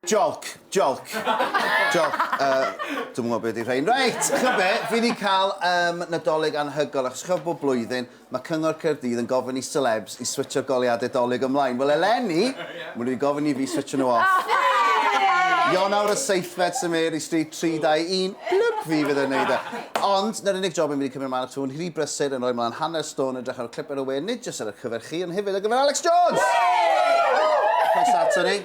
Jolc, jolc, jolc. Uh, Dwi'n gwybod beth ydy rhain. Reit, chi'n be, fi wedi cael um, nadolig anhygoel, achos chi'n bob blwyddyn, mae Cyngor Caerdydd yn gofyn i celebs i switcho goliadau dolyg ymlaen. Wel, eleni, maen nhw wedi gofyn i fi switcho nhw off. Ionawr y seithfed sy'n Mary Street 321, blwp fi fydd yn neud e. Ond, na'r unig job yn mynd i cymryd ymlaen at hwn, hiri brysur yn rhoi mlaen hanner stôn yn drach ar y clip ar y we, nid jyst ar y cyfer chi, ond hefyd ar gyfer Alex Jones! Croeso ato ni.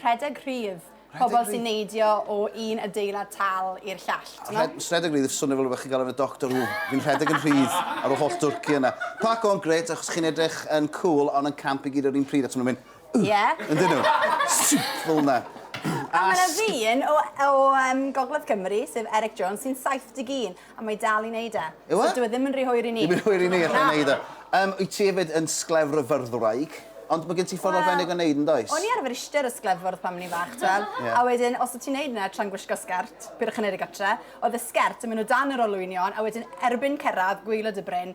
Rhedeg rhydd. Pobl sy'n neidio o un adeilad tal i'r llall, t'mod? Rhedeg rhydd, swnio fel rhywbeth chi'n gael yn y Doctor Who. Fi'n rhedeg yn rhydd ar ôl holl dwrci yna. Park on, grêt, achos chi'n edrych yn cŵl ond yn camp i gyd yr un pryd, achos maen nhw'n mynd Ugh! Ie. Yndyn nhw? Sip! Fel 'na. A mae 'na ddyn o Gogledd Cymru, sef Eric Jones, sy'n 71, A mae dal i wneud e. Yw e? So dyw e ddim yn rhy hwyr i ni. Ddim yn hwyr i ni allu wneud e. Yym, wyt ti hefyd yn sglefrfyrddwraig? Ond mae gen ti ffordd arbennig o wneud yn does? O'n i arfer eistedd ar y sglefwrdd pan o'n i'n fach, ti'n gweld? Ie. A wedyn, os o' ti'n wneud 'na tra'n gwisgo sgert, peidiwch â wneud e gartre, oedd y sgert yn mynd o dan yr olwynion, a wedyn erbyn cyrraedd gwaelod y bryn,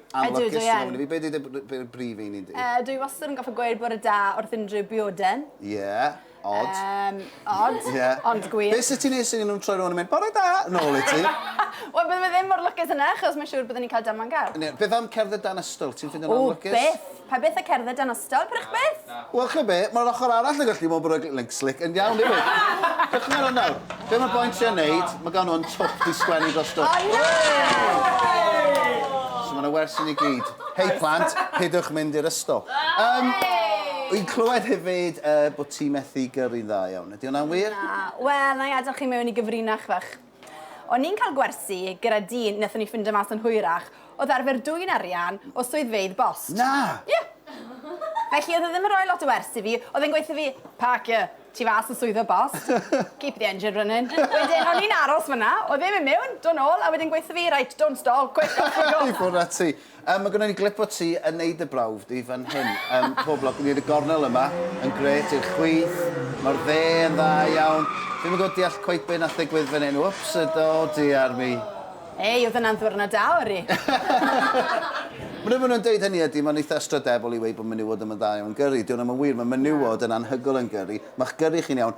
Ydw, dwi yn. Be ydy dy brif un di? Yy, dwi wastad yn goffa gweud bore da wrth unrhyw bioden. Ie, odd. Yym, odd, ond gwir. Be sydd ti'n neud sydd nhw'n troi rhywun yn mynd, bore da, nôl i ti? Wel, bydde fe ddim mor lwcus yna, achos mae'n siŵr byddwn ni'n cael damwain gar. Beth am cerdded dan ystol, ti'n ffindio'n anlwcus? O, byth! Pa beth a cerdded dan ystal, prych beth? Wel, chi'n be, mae'r ochr arall yn gallu bod yn rhoi slick yn iawn hefyd. Dechrau ar hwn nawr. Be mae'r boen ti yn neud, mae gan hwn twp i sgwennu dros dwp. O, na! So mae'n wers i ni gyd. Hei plant, pidwch mynd i'r ysgol. Um, Wy'n clywed hefyd uh, bod ti methu gyrru'n dda iawn. Ydy hwnna'n wir? Na. Wel, na i adael chi mewn i gyfrinach fach. O'n i'n cael gwersi gyda dyn nethon ni ffindo mas yn hwyrach o'dd arfer dwyn arian o swyddfeydd bost. Na! Ie! Felly o'dd e ddim yn roi lot o wers i fi, o'dd e'n gweutho fi, Parker, tu fas yn swyddfa bost, keep the engine running. Wedyn o'n i'n aros fan'na, o'dd e'n mynd mewn, do' nôl, a wedyn gweutho fi, Right, don't stall, quick, off we go! I ffwrdd â ti. Yym mae gynnon ni glip o ti yn neud dy brawf di fan hyn. Yym pob lwc yn neud y gornel yma. Yn grêt i'r chwith. Ma'r dde yn dda iawn. Dwi'm yn gwbod deall cweit be' nath ddigwydd fan hyn. Wps! O do diar mi. Ei, o'dd yna'n ddiwrnod da ori. Mwn'e ma' nhw'n deud hynny ydi ma'n eitha ystrydebol i weud bo' menywod ddim yn dda iawn yn gyrri. Dyw wna'm yn wir, ma' menywod yn anhygol yn gyrri. Ma'ch gyrri chi'n iawn,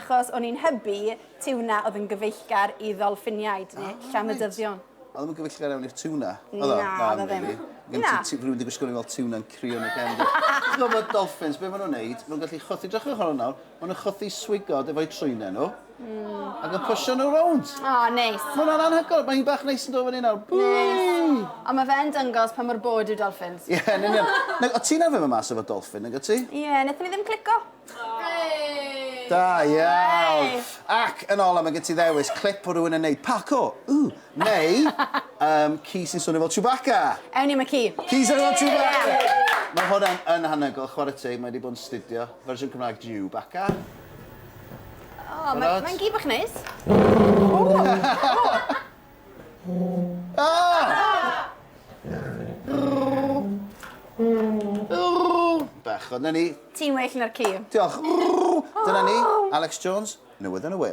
achos o'n i'n hybu tiwna oedd yn gyfeillgar i ddolffiniaid neu llamydyddion. Oedd ddim yn gyfeillgar iawn i'r tiwna? Na, oedd o ddim. Na. Rwy'n wedi gwisgo rhyw fel tiwna'n crio yn y cefn. Ti'n gwybod bod dolffins, be maen nhw'n neud? Maen nhw'n gallu chwythu, drachwch ar hwn nawr, maen nhw'n chwythu swigod efo'u trwynau nhw, hmm. ac yn pwysio nhw rownd. O, neis. Mae hwnna'n anhygoel, mae hi'n bach neis yn dod fyny nawr. Neis. Ond mae fe'n dyngos pa mor bod yw dolffins. Ie, yn union. O, ti'n arfer fy mas efo dolffin, nag ti? Ie, wnaethon ni ddim clico. Da iawn! Ac yn ola, mae gen ti ddewis, clip o rywun yn neud Paco, ooh, neu um, ci sy'n swnio fel Chewbacca. Ewn ni am y ci. Ci sy'n fel Chewbacca! Mae hwnna'n yn hanygol, chwarae teg, mae wedi bod yn studio. Fersiwn Cymraeg Chewbacca. O, mae'n gi bach neis. Bechod, 'na ni. Ti'n well na'r ci. Diolch. Dyna ni, Alex Jones, newydd yn y we.